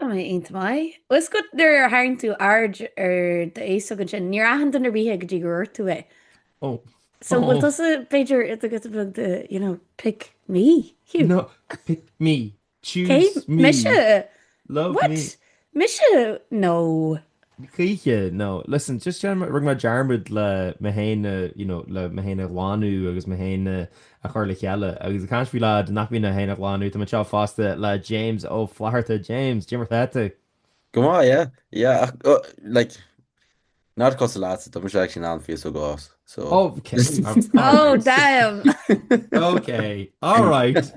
Tá mé iontach maith. Is go nuair a tharraing tú aird ar d'fhéasóg ansin, níor aithin duine ar bith é go dtí gur dhúirt tú é. Ó. So bhfuil tusa b'fhéidir i do go bhfuil de, you know, pick me. Hiú. No, pick me. Choose me. Mise? Love What? me. Mise? No. choíche no listen just dearmad rinne mé dearmad le mé féin a you know le mé féin a ghlanadh agus mé féin a a chur le chéile agus ag caint faoi lad nach mbíonn é féin a ghlanadh tá mé anseo fosta le James Ó Flatharta James cad é mar atá tú. Go maith, yeah, yeah, ach uh, like, not a cosúil leatsa, tá mise actually in ann féasóg a fhás, so. Oh, ok, Oh, alright, damn! ok, alright.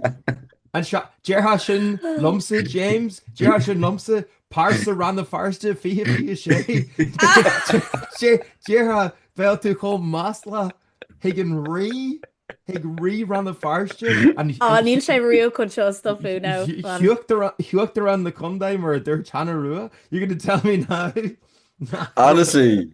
Anseo, déarfá sin liomsa, James, déarfá sin liomsa, Pearsa Rann na Feirste 2026 Cén fáth a bhfuil tú chomh maslach chuig an Rí chuig Rí Rann na Feirste an Ah níl sé riamh chun seo a stopadh ná fuaim. hUachtarán na Condae mar a dúirt Hannah Rua You're going to tell me now Honestly!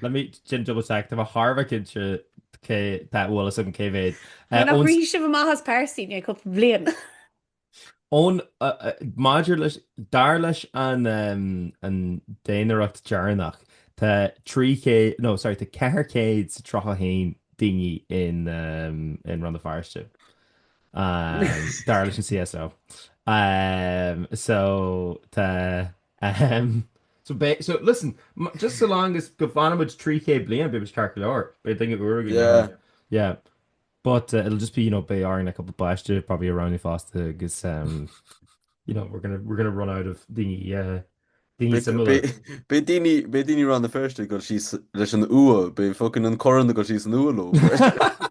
Let me just double check, tá mé thar a bheith cinnte cé tá eolas agam cé mhéad. Bhí nach raibh sibh amach as Pearsaín é cúpla bliain. Ón, maidir leis, dar leis an an daonaireacht deireanach, tá 300, no sorry, tá 431 daoine in in Rann na Feirste, dar leis an CSO. So tá Ahem. So beidh, so listen, just so long as go bhfanfaimid 300 bliain, beimid ceart go leor. Beidh daoine úra againn. Yeah. Yeah. But uh, it'll just be, you know, beidh orainn a couple páiste, probably around fosta, agus, um, you know, we're gonna, we're gonna run out of daoine, uh, daoine similar. Beidh daoine, beidh daoine Rann na Feirste go sí leis an ua, beidh fucking an corn go sí san ua ló.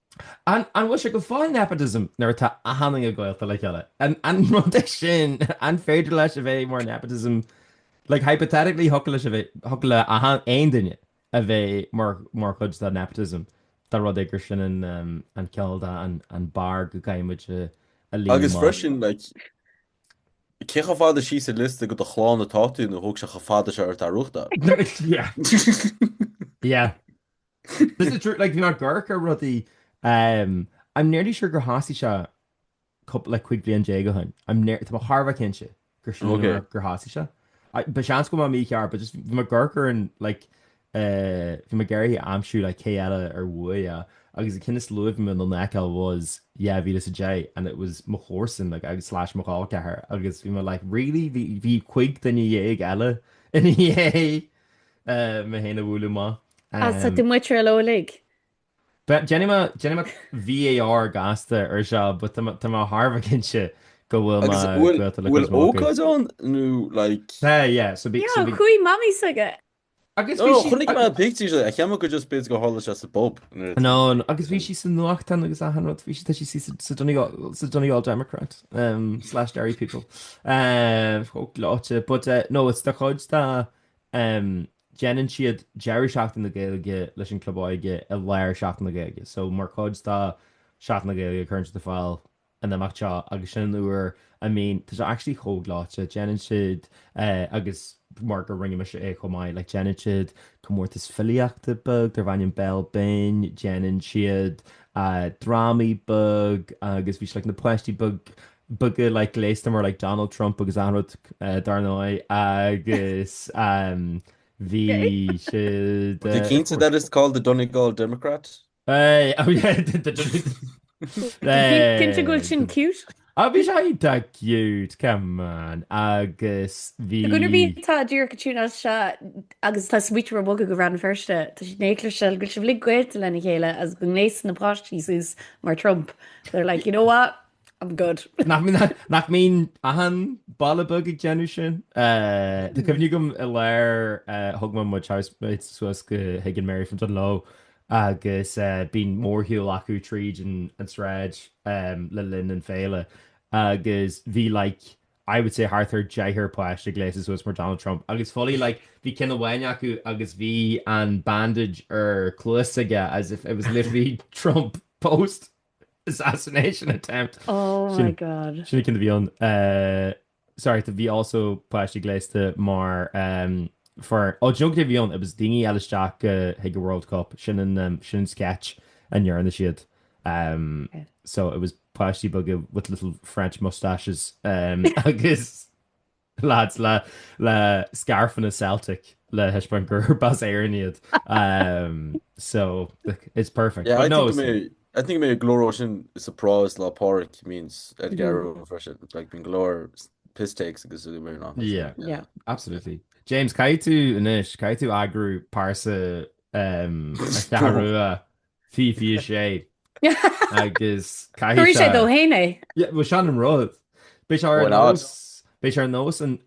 An bhfuil sé go fóill nepotism nuair atá achan duine gaolta le chéile? An rud é sin? An féidir leis a bheith more nepotism? Like hypothetically thiocfadh leis a bheith, thiocfadh le achan, aon duine a bheith mar, mar chuid de nepotism dá rud é gur sin an, an cineál de an, an barr go gcaithfidh muid a, a líonadh Agus amach. freisin like, cé chomh fada síos ar liosta de do chlann atá tú nó thóg sé chomh fada seo ort é a bhuachtáil? Yeah. Yeah. This is true, like bhí mé ag amharc ar rudaí ehm I'm nearly sure gur thosaigh sé coup like cúig bliain déag ó shoin I'm near tá mé thar a bheith cinnte gur sin Ok. an gur thosaigh sé. I- ba seans go mbeadh mé mícheart but just bhí mé ag amharc ar an like eh bhí mé ag iarraidh aimsiú like cé eile a bhuaigh é agus an ceann is luaithe a bhí mé in ann a fheiceáil was dhá mhíle is a deich and it was mo chomharsain like agus slash mo chol ceathair agus bhí mé like really bhí bhí cúig duine dhéag eile ina dhiaidh Mé féin a bhuaileadh maith. Tá muid ar leo uilig. Déanfaidh mé VAR gasta ar seo but tá mé thar a bheith cinnte go bhfuil mé gaolta le cuid mhaith acu. Bhfuil ócáid ann nó like? Tá yeah so bhí. Yeah chuaigh mamaí s'aige. Agus bhí sí. Oh chonaic mé pictures a cheapadh go just bit go tharla sé sa bpub. Anonn agus bhí sí sa nuachtán agus achan rud bhí sí tá sí sa Donegal sa Donegal Democrat. slash Derry People chomh gleoite but uh, no it's mar chuid de um, déanann siad deireadh seachtain na Gaeilge leis an club óige i lár seachtain na Gaeilge so mar chuid de seachtain na Gaeilge cuireann siad ar fáil an imeacht seo agus sin an uair I mean tá sé actually chomh gleoite déanann siad uh, agus mar go rinne mise é chomh maith like déanann siad comórtas filíochta beag darbh ainm Béal Binn déanann siad drámaí beag agus bhí siad na páistí beaga like gléasta mar like Donald Trump agus achan rud dar ndóigh agus bhí siad Tá cinnte that it's called the Donegal Democrat? Hey, oh yeah, the Donegal Cinnte go bhfuil sin cute? Ah bhí sé iontach cute, come on, agus bhí. Go raibh míle tá díreach go trína as seo agus tá smaointiú ar bogadh go Rann na Feirste, tá siad in éagla sibh go bhfuil sibh uilig gaolta lena chéile agus go ngléasann na páistí suas mar Trump, they're like, you know what, I'm good. Nach mbíonn achan baile beag ag déanamh sin? Tá cuimhne agam i lár thug mé mo housemate suas chuig an Mary from Dungloe agus bíonn mórshiúl acu tríd an tsráid le linn an féile agus bhí like I would say thart ar deichniúr páiste gléasta suas mar Donald Trump agus fully like bhí ceann amháin acu agus bhí an bandage ar cluas aige as if it was literally Trump post assassination attempt. Oh my God. Sin ceann a bhí ann. Sorry, to bhí also páistí gléasta mar for oh do you know cad é a bhí ann? It was daoine ag fáil isteach go chuig an World Cup, sin an sin an sketch a ndearna siad. So it was páistí beaga with little French moustaches agus lads le le scairfeanna Celtic le thaispeáint gurb as Éirinn iad. So it's perfect. But no, Chonaic mé go leor dó sin sa bparáid Lá 'le Pádraig a bhíonns ar an gCeathrú Rua freisin. Like bíonn go leor piss takes agus uaim ar an áthas. Yeah. Yeah. Absolutely. James, caithfidh tú anois, caithfidh tú eagrú paráid sa Cheathrú Rua 2026 agus caithfidh sé. Chuirfidh sé dó féin é. Yeah, bhuel sin an rud. Beidh sé ar nós, beidh sé ar nós an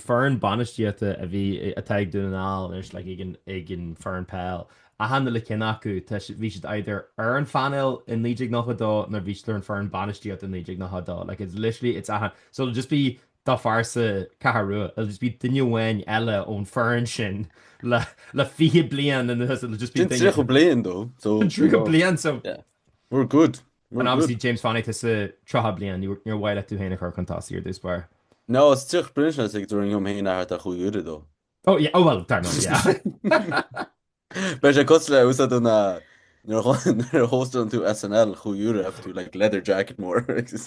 foireann bainistíochta a bhí, atá ag Dún na nGall anois, like, ag an foireann peil. Achan uile cinn acu, tá siad, bhí siad either ar an phainéal i 1992 nó bhí siad ar an foireann bainistíochta i 1992. Like, it's literally, it's a ha-, so it'll just be do phearsa Ceathrú Rua, it'll just be duine amháin eile ón foireann sin le, le 20 bliain anuas, it'll just be duine. Sin 30 bliain, though, so. Sin 30 bliain, so. Yeah. We're good. Obviously James Fannie te sa 30 bliain, níor mhaith leat tú féin a chur chun tosaigh ar dtús barr. Ná is tiocht brionsle is ag dul orm féin a thabhairt cúig uaire dó. Ó yeah, ó bhuel, dar ndóigh, yeah. Beidh sé cosúil le Saturday Night nuair a hóstann tú SNL cúig uaire agus tú like leather jacket mór agus.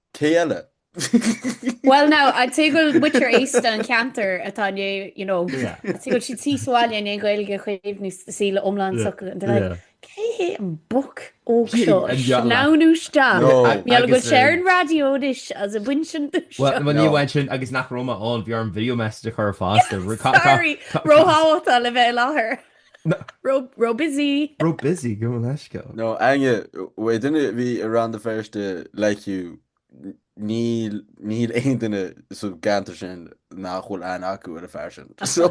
Cé eile? Bhuel now, I'd say go bhfuil muintir aosta an cheantair atá in Éirinn, you know, Yeah. I'd say go bhfuil siad tí sa bhaile in aon Ghaeilge a chaomhnú s- sí le iomlán Yeah. socair. And they're like, Yeah. cé hé an boc óg Cé seo a an gheall leat? sleamhnú isteach? No. Ag- Mar gheall go bhfuil sé ar eh, an raidió anois as a bhain sin do Well, seo. well, ní No. bhain sin agus nach raibh mé ann, bhí orm video message a chur fosta. Ru- ca- ca- Sorry, ca- ca- róthábhachtach le bheith i láthair. Ró-busy! Ró-busy, go bhfuil aisce ann. No, Aine, bhé duine a bhí i Rann na Feirste le Hugh, níl, níl aon duine sa gceantar sin nach bhfuil aithne acu ar an fear sin. So,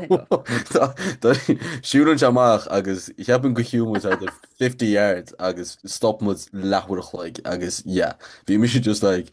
tá, tá, siúil anseo amach agus ceapaim go shiúil muid about fifty yards agus stop muid leath uair a chloig agus yeah, bhí mise just like,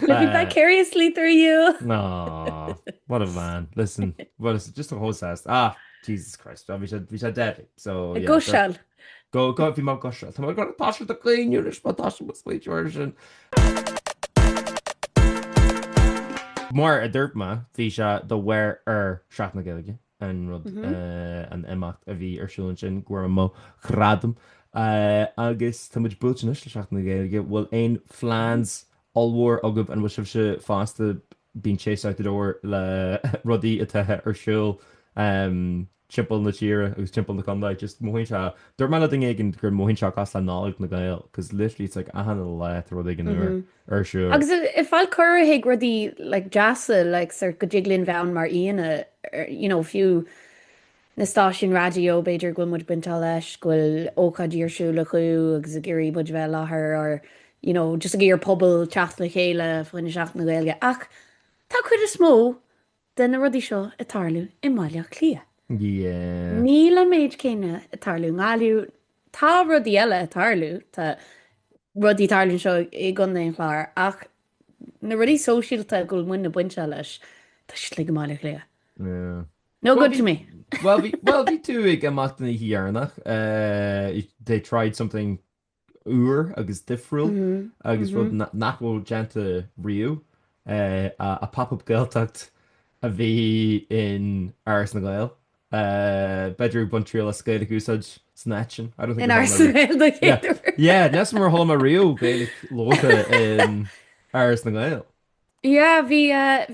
Look at that curiously through you! Aww, what a man. Listen, well listen, just a whole sass. Ah, Jesus Christ, bhí sé, bhí sé deadly, so yeah. Go seal! Go, go, bhí mé go seal. Tá mé ag goil a thoiseacht a chaoineadh anois, má thoisím a smaointiú air sin. Mar a dúirt mé, bhí sé de bharr Sheachtain na Gaeilge. an rud, an imeacht a bhí ar siúl ansin, go bhfuair mé gradam. Agus tá muid buailte anois le Seachtain na Gaeilge. Bhfuil aon phleans ollmhór agaibh? An bhfuil sibhse fosta being chased out the door le rudaí atá ar siúl timpeall na tíre agus timpeall na contae? Just mothaíonn sé, dúirt mé le duine éigin gur mothaíonn sé cosúil le Nollaig na Gael, 'cause literally it's like achan lá tá rud éigin nua. ar siúl. Agus ag fáil cuireadh chuig rudaí like deasa like sort go dtig linn bheith ann mar aíonna ar you know fiú na stáisiúin raidió b'fhéidir go bhfuil muid bainte leis go bhfuil ócáidí ar siúl acu agus ag iarraidh muid a bheith i láthair or you know just ag iarraidh pobal teacht le chéile fá choinne Seachtain na Gaeilge ach tá cuid is mó de na rudaí seo ag tarlú i mBaile Átha Cliath. Yeah. Níl an méid céanna ag tarlú i nGaillimh. Tá rudaí eile ag tarlú, tá rudaí ag tarlú anseo i gContae an Chláir, ach na rudaí sóisialta a bhfuil muidne bainte leis, tá siad uilig i mBaile Átha Cliath. Yeah. No good to me. Bhuel, bhí tú ag imeacht ina dhiaidh deireanach, they tried something úr agus difriúil agus rud nach raibh déanta riamh, a Pop Up Gaeltacht a bhí in Áras na nGael. B'fhéidir ag baint triail as Gaeilge a úsáid san áit sin. In Áras na nGael do chéaduair? Yeah, níos mó a chuala mé riamh Gaeilge labhartha in Áras na nGael. Yeah bhí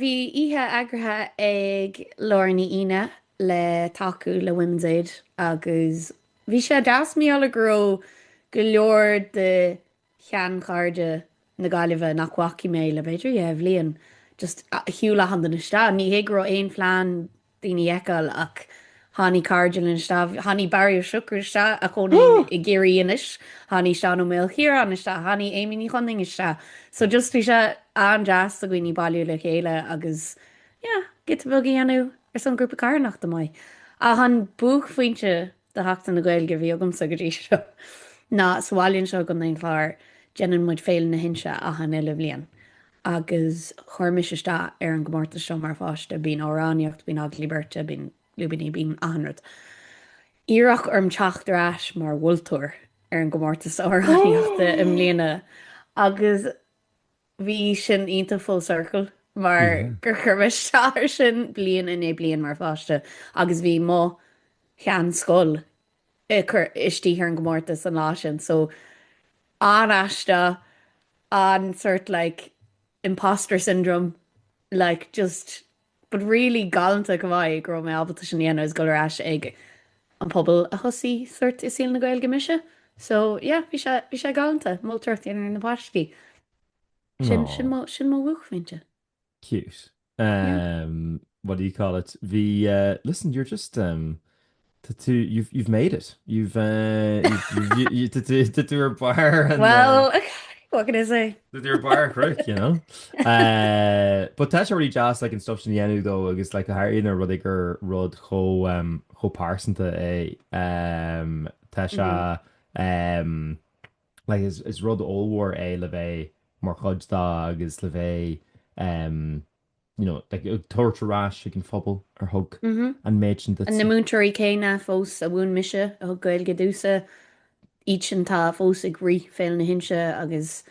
bhí oíche eagraithe ag Laura Ní Aoine le tacú le Women's Aid agus bhí sé deas mar gheall go raibh go leor de sheanchairde na Gaillimhe nach bhfacaigh mé le b'fhéidir dhá bhliain just shiúil achan duine isteach ní hé go raibh aon phlean daoine fheiceáil ach tháinigh cairde linn isteach, tháinigh Barry Ó Siochrú isteach a chónaíonn i gCiarraí anois, tháinigh Seán Ó Maolchiaráin isteach, tháinigh Amy Ní Chonaing isteach so just bhí sé an-deas do dhaoine bailiú le chéile agus yeah giota beag a dhéanamh ar son grúpa carthanachta maith. Ach an buaicphointe de Sheachtain na Gaeilge a bhí agamsa go dtí seo ná sa bhaile anseo i gContae an Chláir déanann muid Féile na hInse achan uile bhliain agus chuir mise isteach ar an gcomórtas seo mar pháiste, bíonn amhránaíocht, bíonn agallaí beirte, bíonn lúibíní, bíonn achan rud. Iarradh orm teacht ar ais mar mholtóir ar an gcomórtas amhránaíochta i mbliana agus Bhí sin iontach full circle mar gur chuir mé isteach ar sin bliain i ndiaidh bliain mar pháiste agus bhí mo sheanscoil ag cur istigh ar an gcomórtas an lá sin so an-aisteach, an-sort like imposter syndrome like just. But really galánta go maith go raibh mé ábalta sin a dhéanamh is dul ar ais ag an pobal a thosaigh sort i saol na Gaeilge mise so yeah bhí sé bhí sé galánta moltóireacht a dhéanamh ar na páistí sin sin mo sin mo bhuaicphointe. Cute. Yeah. Um, what do you call it? Bhí, eh, listen, you're just, um, Tá tú, you've, you've made it. You've, you've, tá tú, tá tú ar barr an. Well, what can I say? Tá tú ar barr an chnoic, you know. But tá sé really deas, like, an stuff sin a dhéanamh though agus, like, go háirithe más rud é gur rud chomh, chomh pearsanta é. Tá sé, like, is, is rud ollmhór é le bheith mar chuid dó agus le bheith, you know, like, ag tabhairt ar ais ag an phobal ar thug an méid sin duit. Na múinteoirí céanna fós a mhúin mise, a thug Gaeilge domsa, iad atá fós ag rith Féile na hInse agus,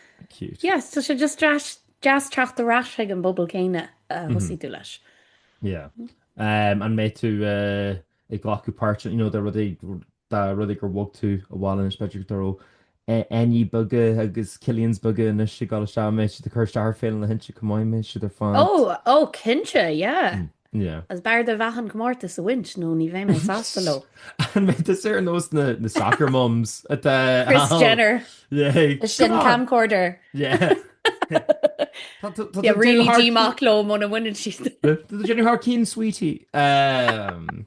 yeah, tá sé just deas teacht ar ais chuig an bpobal céanna a thosaigh tú leis. Yeah. An mbeidh tú ag glacadh páirt, you know, do rudaí Dá rud é gur bhog tú abhaile anois b'fhéidir go dtarlódh Éinní beaga agus Cillians beaga anois ag dul isteach, mbeidh siad ag cur isteach ar Féile na hInse chomh maith, mbeidh siad ar fad. Oh, oh cinnte, yeah. Yeah. Is b'fhearr duit an comórtas a bhaint nó ní bheidh mé sásta leo. An mbeidh tú ar nós na, na soccer mums atá Kris Jenner. Yeah. Sin camcorder. Yeah. ri dí mac lom óna bhaine si. Tá déanú th cín sweetí. Um,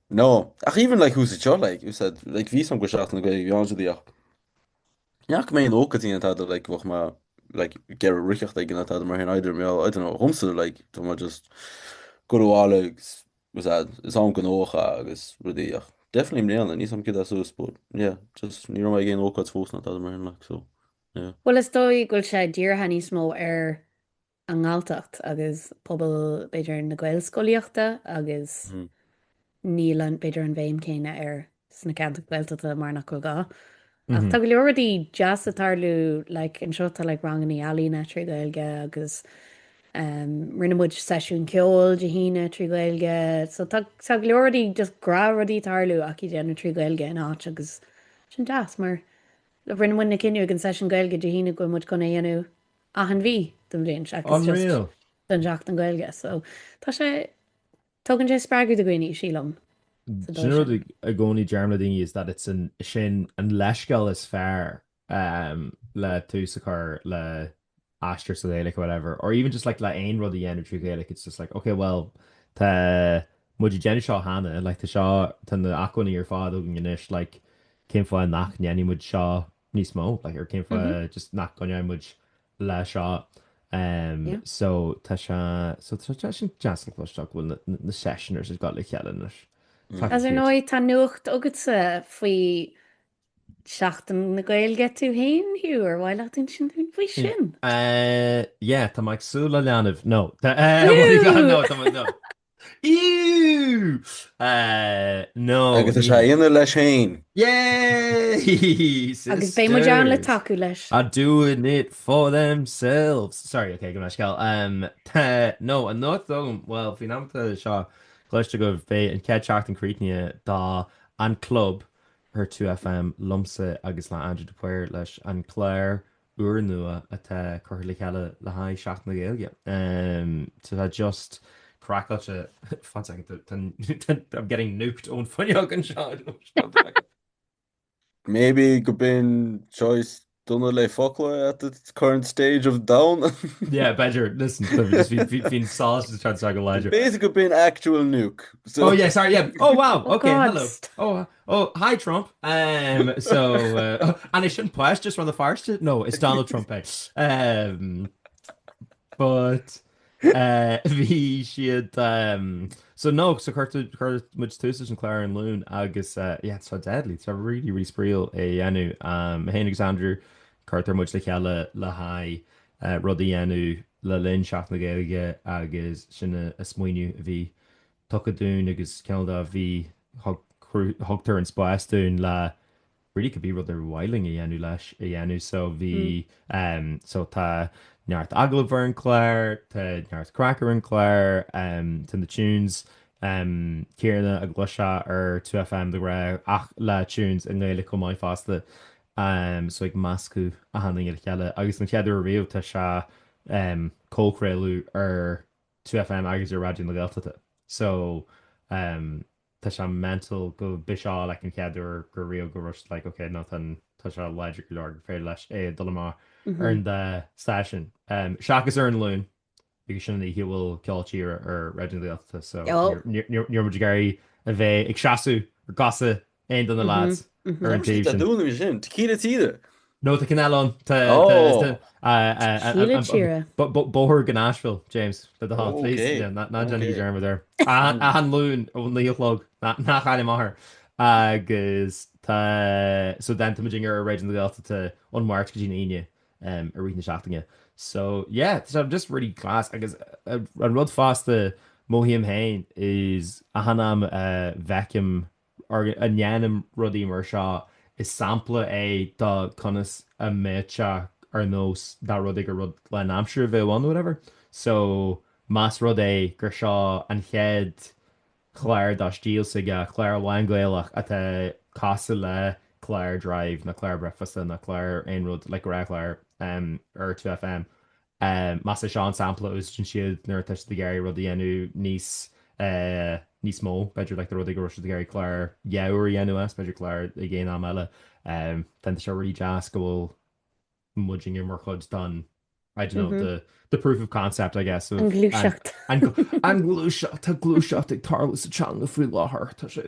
No, ach even like úsaid seo, like úsaid, like bíonn sé an-ghnóthach Seachtain na Gaeilge, bíonn siad í ach ní raibh mé ag aon ócáid ná tada like bheadh mé like ag iarraidh dhul acu ná tada mar sin either mé I don't know dhomsa like tá mé just ag gabháil abhaile agus úsaid is am gnóthacha agus rudaí ach definitely i mbliana níos, am, caite suas but yeah just ní raibh mé ag aon ócáid fós ná tada mar sin like so yeah. Bhuel is dóigh go bhfuil sé dírithe níos mó ar an nGalltacht agus pobal b'fhéidir na Gaelscolaíochta agus níl b'fhéidir an bhéim céanna air sna ceantair Ghaeltachta mar nach bhfuil gá. Ach tá go leor rudaí deasa ag tarlú like anseo tá like rangannaí ealaíne trí Ghaeilge agus ehm rinne muid seisiún ceoil Dé hAoine trí Ghaeilge so tá tá go leor rudaí just gnáthrudaí ag tarlú ach iad á ndéanamh trí Ghaeilge in áit agus sin deas mar like rinne muid an cinneadh ag an seisiún Gaeilge Dé hAoine go bhfuil muid chun é a dhéanamh achan mhí den bhliain. seachas just do Sheachtain na Gaeilge. So tá sé, tugann sé spreagadh do dhaoine, sílim, sa dóigh sin. Sin an rud i gcónaí a deirim le daoine is that it's an, sin an leithscéal is fearr le tús a chur le aistear sa Ghaeilge, whatever, or even just like le aon rud a dhéanamh trí Ghaeilge, it's just like, ok, well, tá muid ag déanamh seo cheana, like tá seo, tá na acmhainní ar fad againn anois, like, cén fáth nach ndéanfaidh muid seo níos mó, like cén fáth just nach gcoinneoidh muid leis seo. So tá sé, so tá sé sin deas le cloisteáil go bhfuil na sessioners ag gabháil le chéile anois. Agus ar ndóigh tá nuacht agatsa faoi Sheachtain na Gaeilge tú fhéin, Hugh, ar mhaith leat insint dúinn faoi sin? Yeah, tá mé ag súil le leanbh, no. Tá, what do you got, no, tá mé, no. Agus tá sé á dhéanamh leis féin! Agus beidh muid ann le tacú leis! Are doing it for themselves! Sorry, okay, go mbeadh scéal. No, an nuacht dom, bhuel, faoin am atá seo cloiste agaibh, beidh an chéad tseachtain críochnaithe de An Club ar 2FM liomsa agus le Aindriú de Paor leis an gclár úrnua atá curtha le cheile le haghaidh Seachtain na Gaeilge. Tá just craiceáilte, fág seaca, I'm getting nuked ón fuinneog anseo. Maybe gurb in choice dona le focla at the current stage of domhan. Yeah, b'fheidir, listen, an ghrian sásta atá anseo go láidir. B'fhéidir gurb in actual nuke. Oh yeah, sorry, yeah, oh wow, ok, hello. Oh, hi Trump! Ehm, so, an é sin poist is rud a phairste? No, it's Donald Trump é. Ehm, but, eh, bhí siad, ehm, so no, so chuir tú, chuir muid tús leis an chlár an Luan agus, eh, yeah, it's so deadly, it's really, really spraíúil é a dhéanamh. Ehm, mé féin agus Andrew, cuirtear muid le chéile le haghaidh, eh, rud a dhéanamh le linn Seachtain na Gaeilge agus sin an smaoineamh a bhí tugtha dúinn agus cineál de bhí thug tugtar an spás dúinn le really cibé rud ar mhaith linn a dhéanamh leis a dhéanamh so bhí ehm so tá neart agallamh ar an gclár tá neart craic ar an gclár ehm tá na tunes ehm céanna a gcluinfeá ar 2FM de ghnáth ach le tunes i nGaeilge chomh maith fosta ehm so ag meascadh achan rud le chéile agus an chéad uair ariamh tá sé ehm comhchraoladh ar 2FM agus ar Raidió na Gaeltachta. So umm tá sé mental gurb é seo like an chéad uair go raibh go raibh siad like ok no tá tá sé láidir go leor gur féidir leis é a dul amach ar an dá stáisiún umm seachas ar an Luan because sin an oíche a bhfuil ceol tíre ar Raidió na Gaeltachta so ní raibh ní raibh muid ag iarraidh a bheith ag seasamh ar chosa Aon duine eile ar an taobh sin? Dúnadh mé sin. Tequila Tíre? No, tá cineál ann. Tá Tequila Tíre. Bóthar go Nashville, James, le do thoil, please. Ná déan dearmad air. Achan Luan ó naoi a chlog, nach ainm maithe. Agus tá, so tá muidinne ar Raidió na Gaeltachta ón Máirt go dtí an Aoine i rith na seachtaine. So yeah, tá sé just really class. Agus an rud fosta, mothaím féin is achan am a bhfeicim nó a ndéanaim rudaí mar seo, is sampla é do conas a bheadh sé ar nós dá rud é gur rud lánaimseartha a bheadh ann nó whatever. So, más rud é gur seo an chéad chlár dá stíl s'aige, clár lán-Ghaelach atá cosúil le clár Drive nó clár Breicfeasta nó clár aon rud, like go raibh clár ar 2FM, Ehm, más é seo an sampla a úsaideann siad nuair atá siad ag iarraidh rud a dhéanamh níos eh níos mó, b'fhéidir like dá rud é go raibh siad ag iarraidh clár dhá uair a dhéanamh as, b'fhéidir clár ag aon am eile. Ehm, tá sé really deas go bhfuil muid inniu mar chuid don, I don't know, the the proof of concept, I guess, of, An ghluaiseacht. An ghluaiseacht, Tá gluaiseacht ag tarlú sa teanga faoi láthair, tá sé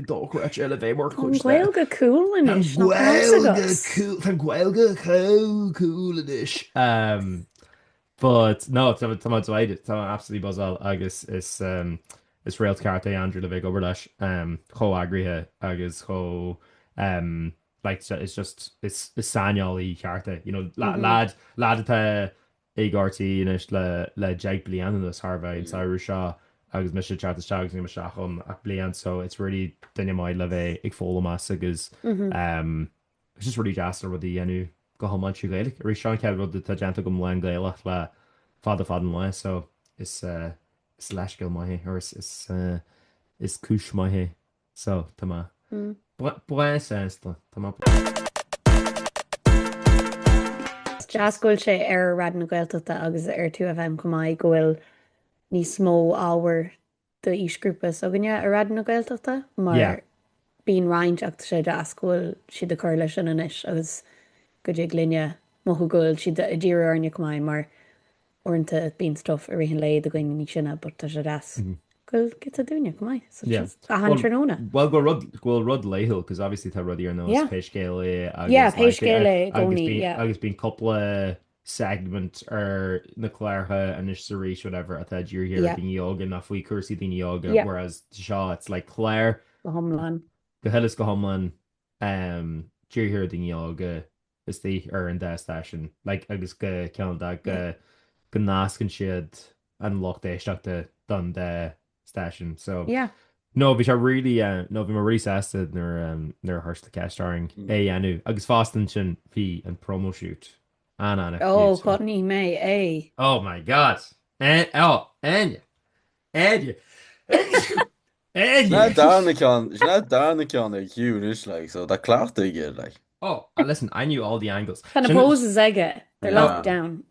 dochreidte le bheith mar chuid de. Tá Gaeilge cool anois, nach raibh a fhios agat? Tá Gaeilge chomh cool anois. But, no, tá mé delighted, tá mé absolutely buzzáil agus is is réalt ceart é Andrew le bheith ag obair leis chomh eagraithe agus chomh like is just is saineolaí ceart é, you know lad lad atá Ag RTÉ anois le deich bliana anuas tharla an samhradh seo agus mise ag teacht isteach agus nílim isteach ann ach bliain so it's really, duine maith le bheith ag foghlaim uaidh agus em it's just really deas na rudaí a dhéanamh go hiomlán trí Ghaeilge. Arís seo an chéad rud atá déanta agam lán Gaelach le fada fada an lá so is eh is leithscéal maith é or is is eh is cúis maith é. So, tá mé. breá sásta. Tá mé. Is deas go bhfuil sé ar Raidió na Gaeltachta agus ar 2FM chomh maith, go bhfuil níos mó ábhair d'aoisghrúpa s'againne ar Raidió na Gaeltachta mar. Yeah. Bíonn roinnt ach tá sé deas go bhfuil siad ag cur leis sin anois agus go dtig linne mothú go bhfuil siad ag díriú orainne chomh maith mar uaireanta bíonn stuff i rith an lae do dhaoine níos sine but tá sé deas go bhfuil giota dúinne chomh maith such as achan tráthnóna. Bhuel go bhfuil rud go bhfuil rud laethúil 'cause obviously tá rudaí ar nós pé scéal é agus yeah pé scéal é i gcónaí yeah agus bíonn cúpla segment ar na cláracha anois is arís whatever atá dírithe ar dhaoine óga nó faoi chúrsaí daoine óga, whereas seo it's like clár go hiomlán go huile is go hiomlán dírithe ar dhaoine óga istigh ar an dá stáisiún, like, agus go ceann dá, go, go nascann siad an lucht éisteachta don dá stáisiún. So, Yeah. no, bhí sé really, eh, no, bhí mé really sásta nuair, em, nuair a chuir siad ceist orainn é a dhéanamh. Agus fosta ansin, bhí an promo shoot an-an-an-an cute, Oh, so. ghotnaigh mé é! Oh my God! Eh, oh, Áine! Éire. Éire. Is é an dara ceann ag Hugh anois like, so tá cleachtadh aige like. Oh, ah listen, I knew all the angles. Tá na poses aige, they're locked down.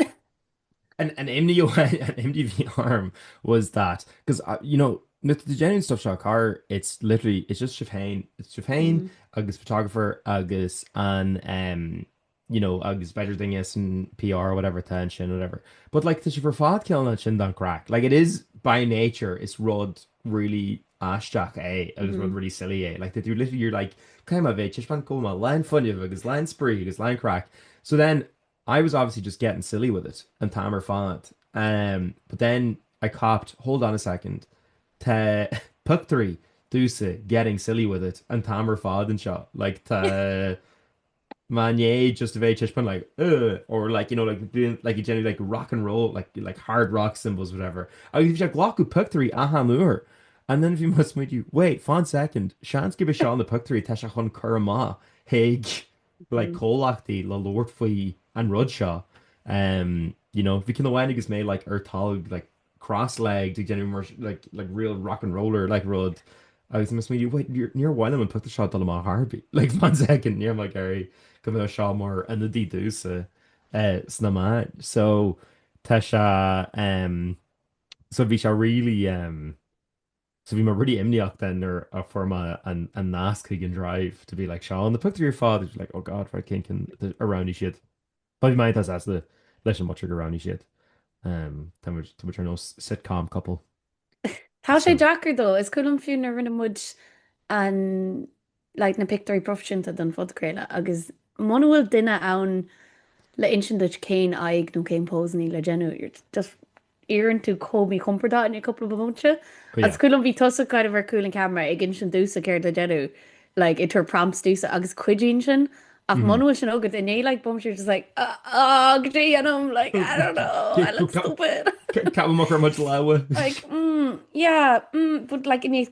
An imní a bhí orm was that, because you know, na genuine stuff seo, mar, it's literally, it's just sibh féin, it's sibh féin agus photographer agus an em, you know, agus b'fhéidir duine san PR or whatever atá ansin whatever but like tá sibh ar fad cineál ansin don chraic like it is by nature is rud really aisteach é agus rud really silly é like that you literally you're like caithfidh mé bheith ag taispeáint cuma lán fuinnimh agus lán spraoi agus lán craic so then I was obviously just getting silly with it an t-am ar fad um, but then I copped hold on a second tá pictiúirí domsa getting silly with it an t-am ar fad anseo like tá Mar ní just a bheith ag taispeáint like uh or like you know like doing like ag déanamh like rock and roll like like hard rock symbols whatever agus bhí sé ag glacadh pictiúirí achan uair and then bhí mé ag smaoitiú wait fan second seans gurb iad seo na pictiúirí tá sé chun cur amach ag like comhlachtaí le labhairt faoi an rud seo um you know bhí cionn amháin agus mé like ar talg like cross legged ag déanamh mar like like real rock and roller like rud agus mheas mé wait níor níor mhaith liom an pictiúr seo dul amach chor ar bith like one second níl mé ag iarraidh go mbeadh seo mar ionadaí domhsa eh, sna meáin so tá sé em so bhí sé really em So bhí mé really imníoch then nuair a fuair mé an an nasc chuig an drive to be like seo na pictiúirí ar fad bhí mé like oh god right cén cinn a roghnaigh siad. But bhí mé iontach sásta leis an bpictiúr a roghnaigh siad. Ehm tá muid tá muid ar nós sitcom couple. Tá sé deacair though. Is cuimhin liom fiú nuair rinne muid an Like na pictiúirí proifisiúnta don phodchraoladh agus muna bhfuil duine ann le insint duit cén aghaidh nó cén pose a níl le déanamh, you're just éiríonn tú chomh míchompordach in cúpla bomaite. Agus is cuimhin liom bhí tusa kind of ar chúl an ceamara ag insint domhsa céard le déanamh, like ag tabhairt prompts domhsa agus cuidíonn sin ach muna bhfuil sin agat i ndiaidh like bomaite you're just like ahh cad é a dhéanaim like I don't know I look stupid. Ceapaim gur muid lámha. Like mm yeah mm but like i ndiaidh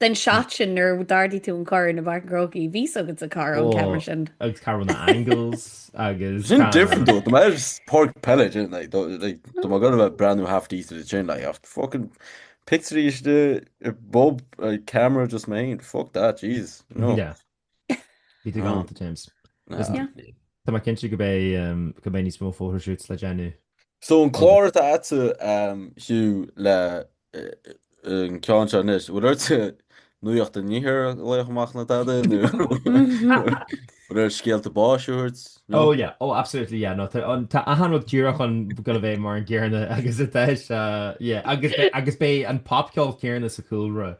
Den seat sin nuair a d'ardaigh tú an corn i bPáirc an Chrócaigh, bhí a fhios agat cá raibh an ceamara sin. Ó, agus cá raibh na angles agus Sin different though, tá mé ar Páirc Peile sin, like, tá, like, tá mé ag dul ag breathnú half decent ansin, like, ach fucking pictiúirí istigh i bpub, like, camera just mé féin, fuck that, Jesus, no. Yeah. Bhí tú galánta, James. Tá mé cinnte go mbeidh níos mó phothoshoot le déanamh. So an clár atá agatsa, Hugh, le an ceann seo anois, bhfuil ort nuaíocht an Iarthair a ghlaoch amach nó tada, nó bhfuil ort scéalta báis a thabhairt? Ó, yeah, oh, absolutely, yeah, no, tá achan rud díreach ag gabháil a bheith mar an gcéarna agus atá sé, yeah, agus beidh an popcheol céarna sa chúlra.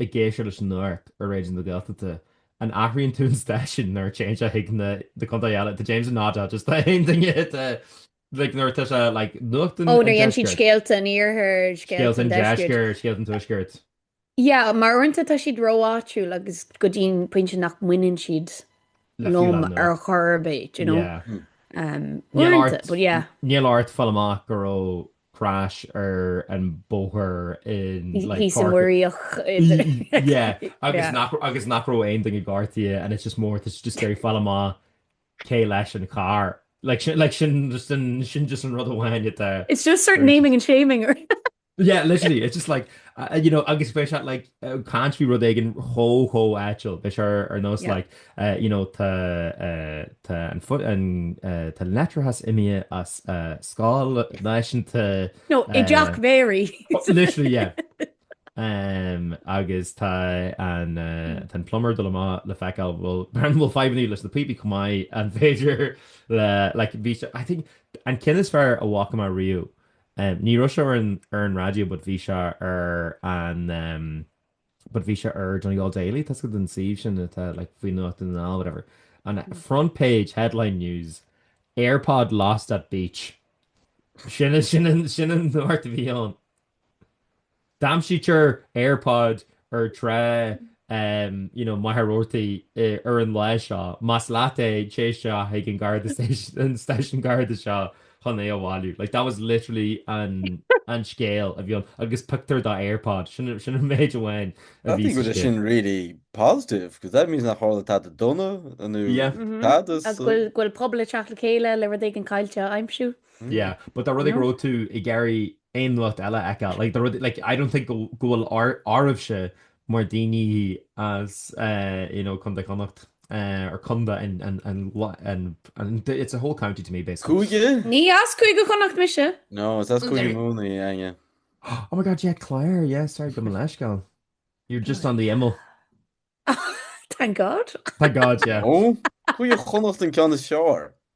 ag éisteacht leis an nuacht ar Raidió na Gaeltachta, an athraíonn tú an stáisiún nuair a téann sé chuig na contaetha eile? Tá James ag nodáil, just, tá aon duine de like nuair atá sé like nuacht an deiscirt. Ó nuair a dhéanann siad scéalta an iarthair, scéalta an deiscirt, scéalta an tuaiscirt. Yeah, mar uaireanta tá siad ró-áitiúil agus go dtí an pointe nach mbaineann siad liom ar chor ar bith, do you know? Yeah. Níl ort fáil amach go raibh crash ar an bóthar in like Thíos i Páirc Muiríoch idir Yeah agus Yeah. nach agus nach raibh aon duine gortaithe and it's just more to just say fáil amach cé leis an carr. Like sin like sin just an sin just an rud amháin atá It's just sort of very naming and shaming Yeah literally it's just like uh you know agus bheadh sé like uh, caint faoi rud éigin chomh chomh áitiúil, bheadh sé ar ar nós Yeah. like you know, tá an leictreachas imighe as scoil náisiúnta. No, i dteach Mary. Literally, yeah. Agus tá an plumber dul amach le feiceáil, bhuel, mura bhfuil fadhbanna leis na píopaí chomh maith, an féidir le, like, bhí sé, I think, an ceann is fearr a bhfaca mé riamh, ní raibh sé ar an raidió, but bhí sé ar an, but bhí sé ar Donegal Daily tá a fhios agat an suíomh sin atá like faoi nuacht i nDún na nGall whatever and a front page headline news Airpod lost at beach sin sin sin an nuacht a bhí ann d'aimsítear Airpod ar trá um you know Machaire Rabhartaigh ar an lá seo más leat é téigh isteach chuig an gharda an stáisiún garda seo chun é a bhailiú. Like that was literally an an scéal a bhí ann agus pictiúr de Airpod. Sin sin an méid amháin a bhí sa scéal. Sin really positive because that means nach tharla tada dona nó tada sa. Go bhfuil pobal ag teacht le chéile le rud éigin caillte a aimsiú. Yeah but dá rud é go raibh tú ag iarraidh aon nuacht eile aici like dá rud like I don't think go bhfuil áireamhse Mhair daoine as you know Contae Chonnacht or Conda and and it's a whole county to me basically. Cúige? Ní as Cúige Chonnacht mise. No, is as Cúige Mumhan í Aine. Oh my God, yeah, Clare, yeah, sorry, go mba leithsceal. You're just on the imeall. Thank God. Thank God, yeah. Oh, Cúige Chonnacht an ceann is fearr.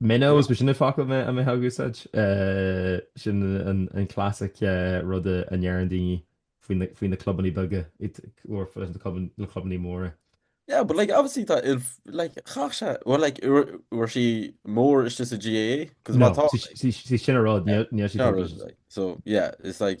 Minnows, b'shin an focal a mbeadh ag úsáid. Sin an classic rud a ndeireann daoine faoi na clubannaí beaga leis na clubannaí móra. Yeah, but like obviously tá like chach sé well like uair sí mór is just a GAA cos má tá sí sin rud ní so yeah it's like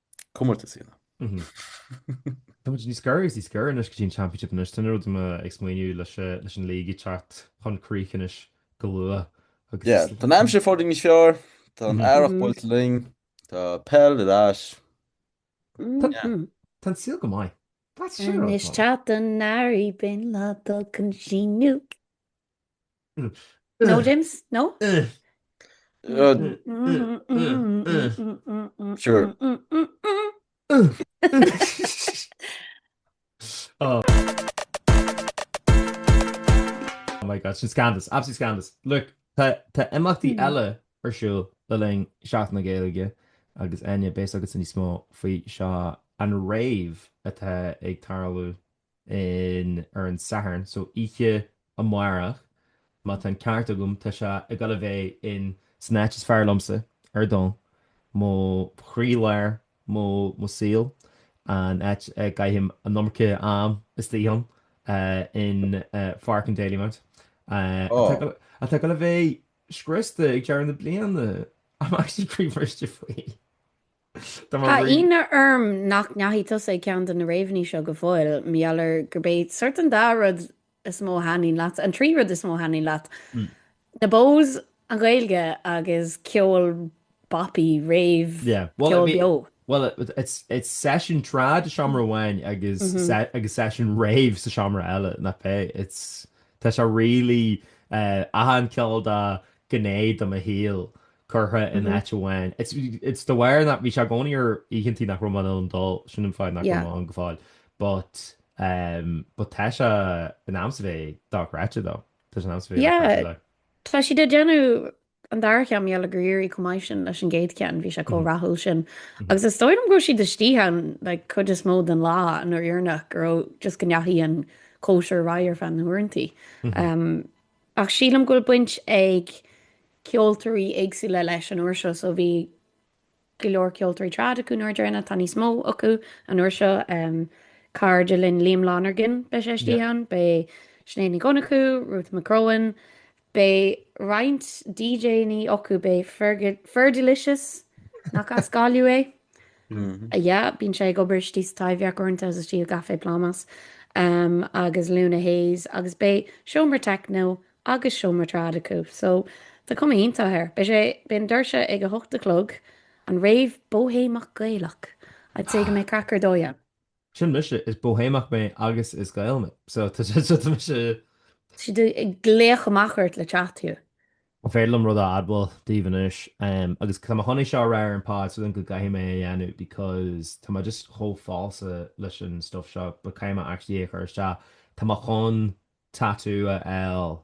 Comórtas í ná. Táimid níos gaire agus níos gaire anois go dtí an Championship anois. Tá na rud ama ag smaoineamh leis leis an League ag teacht chun críche anois go luath agus Yeah, tá an aimsir fóirithint níos fearr, tá an earrach buailte linn, tá peil ar ais. Yeah. Tá an saol go maith. That's Sé rud Anois maith. teacht an earraigh beidh an lá dul chun síneadh. No James? No? Sure. Oh my God, sin scandalous, absolute scandalous. Look, tá imeachtaí hmm. eile ar siúl le linn Seachtain na Gaeilge agus Áine beidh a fhios agatsa níos mó faoi seo an rave atá ag tarlú in ar an Satharn, so oíche amáireach, má tá an ceart agam, tá sé ag dul a bheith in san áit is fearr liomsa ar domhan, mo chroí-lár mo mo saol, an áit a gcaithim an iomarca am istigh ann, in Pháirc an Dalymount, atá go atá go le bheith scriosta ag deireadh na bliana! I'm actually croí-bhriste faoi! Tá ionadh orm nach ndeachaigh tusa ag ceann de na réabhannaí seo go fóill, mar gheall ar gurb é sórt an dá rud is mó a thaitníonn leat, an trí rud is mó a thaitníonn leat, na Bohs, an Ghaeilge agus ceol bopaí, réabh, ceol beo. Bhuel, it's seisiún trad i seomra amháin agus seisiún réabh sa seomra eile, nach b'ea? Tá sé really, achan ceol dá gné de mo shaol curtha in áit amháin. It's de bharr nach, bhí sé i gcónaí ar oícheantaí nach raibh mé in ann dul, sin an fáth nach raibh mé ann go fóill but ehm but tá sé in ainm is a bheith dochreidte dom, tá sé in ainm is a bheith dochreidte dom. Tá siad ag déanamh an dara ceann, mar gheall gur éirigh chomh maith sin leis an gcéad cheann, bhí sé chomh rathúil sin agus is dóigh liom go raibh siad istigh ann like cuid is mó den lá an uair dheireanach go raibh just go ndeachaigh an cóisir ar aghaidh ar feadh na huaireantaí. Ach sílim go bhfuil baint ag ceoltóirí éagsúla leis an uair seo, so bhí go leor ceoltóirí trad acu an uair dheireanach, tá níos mó acu an uair seo, cairde linn, Liam Lonergan beidh sé istigh ann, beidh Sinéad Ní Dhonnchú, Ruth McCrohan, beidh roinnt DJ-annaí acu, beidh Fergalicious, nach as Gaillimh é? Sea, bíonn sé ag obair istigh sa Taibhdhearc uaireanta is istigh i gcaifé Plámás agus Luna Hayes agus beidh seomra techno agus seomra trad acu so tá cuma iontach air. Beidh sé, beidh na doirse ag a hocht a chlog, an rave bóithéimeach Gaelach, I'd say go mbeidh craic ar dóigh ann. Sin mise, is Bóihéimeach mé agus is Gael mé. So, tá sé, tá mise. Tá siad ag glaoch amach ort le teacht thiar. An féidir liom rud a admháil daoibh anois? Agus tá mé chun é seo a rá ar an pod, sílim go gcaithfidh mé é a dhéanamh because tá mé just chomh falsa leis an stuff seo but caithfidh mé actually é a chur isteach, tá mé chun tattoo a fháil.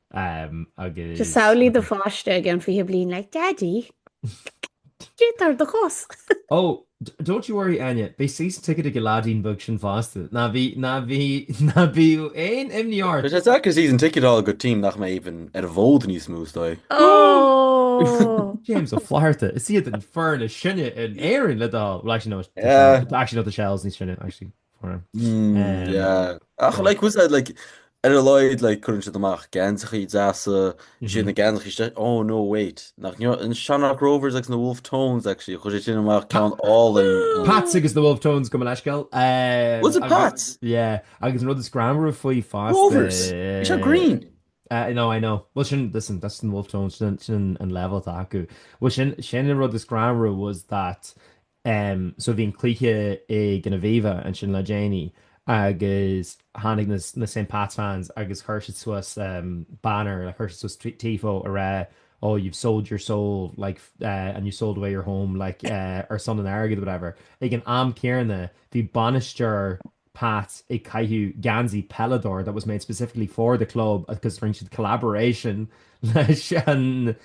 Samhlaigh do pháiste i gceann 20 bliain like, Daddy, cad é atá ar do chos? Oh, don't you worry, Áine, beidh season ticket ag an leaidín beag sin fosta. Ná bí, ná bí, ná bíodh aon imní ort! Tá sé deacair season ticket a fháil do team nach mbeidh even ar an bhfód níos mó, is dóigh. Oh! James Ó Flatharta, is iad an fhoireann is sine in Éirinn le do thoil, well actually no, actually no, tá Shels níos sine, actually. for him. Mm, um, yeah. Ach, like, was that, like, ar a laghad cuireann siad amach geansaíochaí deasa mhm. sin na ganiste ó oh, nó wait nach an Shanach Rovers ag na Wolfe Tones ag si chuir siad sin amach ceann le Pat's agus the Wolfe Tones gabh mo leithscéal. Was it Pat's? Yeah, agus an rud is greannmhaire faoi fá Rovers se Green. Uh, no, I know. Well, sin this and that's in Wolfe Tones sin an level acu. Well, sin sin rud is greannmhaire was that so bhí an cluiche ag an Aviva ansin le déanaí agus tháinig na na Saint Pats fans agus chuir siad suas banner, chuir siad suas tifo a rá oh you've sold your soul like and you've sold away your home like ar son an airgid or whatever. Ag an am céarna bhí bainisteoir Pat ag caitheamh geansaí Pellador that was made specifically for the club agus rinne siad collaboration leis an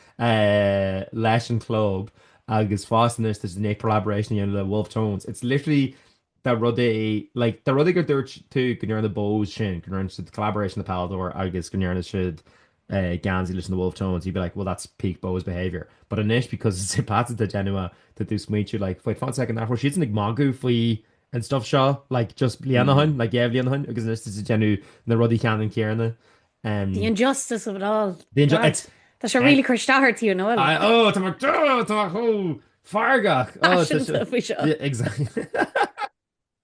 leis an club agus fosta anois tá siad i ndiaidh collaboration a dhéanamh le Wolfe Tones. It's literally dá rud é like dá rud é gur dúirt tú go ndearna Bohs sin go ndearna siad collaboration le Pellador agus go ndearna siad geansaí leis na Wolfe Tones, you'd be like, well that's peak Bohs behaviour. But anois, because it's Pats atá ag déanamh, tá tú ag smaointiú like, wait, fan second, nach raibh siadsan ag magadh faoi an stuff seo like just bliain ó shoin, like dhá bhliain ó shoin, agus anois tú ag déanamh na rudaí ceannann céarna. The injustice of it all. The inju- it's- Tá sé really ag cur isteach ort, you know. I, oh, tá mé, oh, tá mé chomh feargach. Oh, tá sé- Paiseanta faoi seo. Exactly.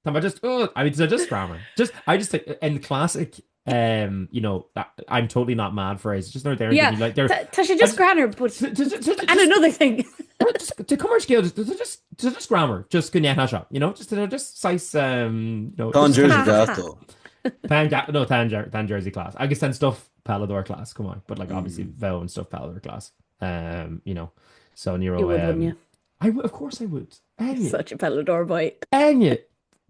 Tá me just oh, I mean, just grammar. Just I just like, in classic um you know that, I'm totally not mad for it it's just not there yeah like there T- she just grammar but to, to, to, to, and another thing just, to come scale just, just just just grammar just go net shop you know just you know, just size um you know tan jersey gato tan no tan tan jersey class I guess tan stuff palador class come on but like obviously mm. veil and stuff palador class um you know so neuro um, yeah I would, of course I would. Enya. Such a Pellador boy. Enya!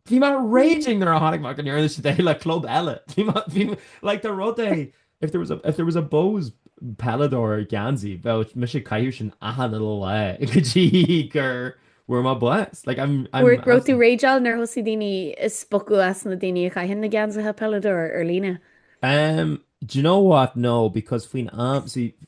Bhí mé raging nuair a chonaic mé go ndearna siad é le club eile. Bhí mé, bhí mé, like dá rud é, if there was a, if there was a Bohs Pellador geansaí, bheadh mise ag caitheamh sin achan lá go dtí gur bhfuair mé bás. Like I'm, I'm Bhfuair, raibh tú absolutely- rattled nuair a thosaigh daoine ag spochadh as na daoine a chaitheann na geansaithe Pellador ar líne? Umm, do you know what, no, because faoin am, see,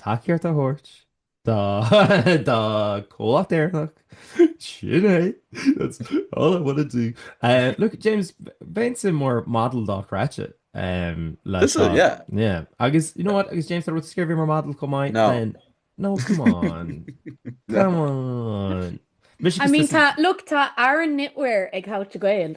tacaíocht a thabhairt do chomhlacht Éireannach, sin é, that's all I wanna do. Look, James, bheinnse mar model dochreidte. Um, le Is tá- yeah. Yeah. Agus, you know what, agus James, tá rud scéir mar model chomh maith. No. then- No, come on. come on. Mise I mean, tá, look, tá Aran Knitwear ag How to Gael.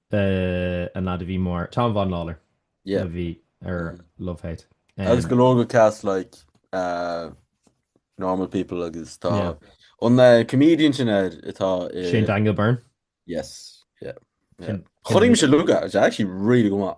the an lad a bhí mar Tom Vaughan-Lawlor yeah a bhí ar mm. Love/Hate um, agus go leor de cast like uh, Normal People agus tá yeah. an an uh, comedian sin ar atá uh, Shane Daniel Byrne yes yeah, yeah. choím se luga actually really go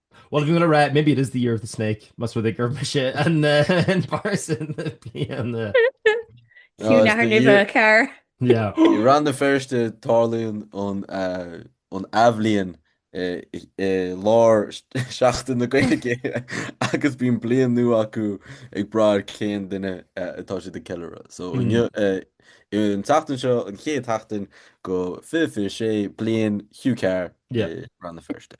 Bhuel, go le rá, maybe it is the year of the snake, más rud é gur mise an fear sa bhliain. Fiú nathair nimhe, a chara. Yeah. I Rann na Feirste, tarlaíonn an athbhliain i lár Seachtain na Gaeilge agus bíonn bliain nua acu ag brath ar cén duine atá siad ag ceiliúradh. So, inniu, an tseachtain seo, an chéad sheachtain de 2026, bliain Hugh Carr i Rann na Feirste.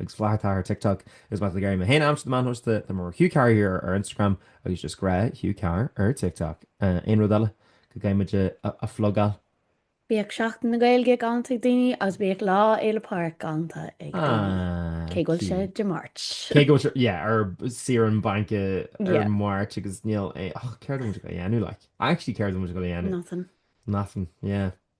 agus Flatha Tah ar TikTok. Is má tá tú ag iarraidh mé féin a aimsiú ar na meáin shóisialta, tá mé mar Hugh Carr here ar Instagram agus just gnáth Hugh Carr ar TikTok. Aon rud eile go gcaithfidh muid a phlugáil? Bíodh Seachtain na Gaeilge galanta ag daoine agus bíodh Lá Fhéile Pádraig galanta ag daoine. Cé go bhfuil sé Dé Máirt. Cé go bhfuil sé ar saoire bainc ar Máirt agus níl a fhios agam céard atá muid ag gabháil a dhéanamh leis. Actually céard atá muid ag gabháil a dhéanamh. Nothing. Nothing, yeah.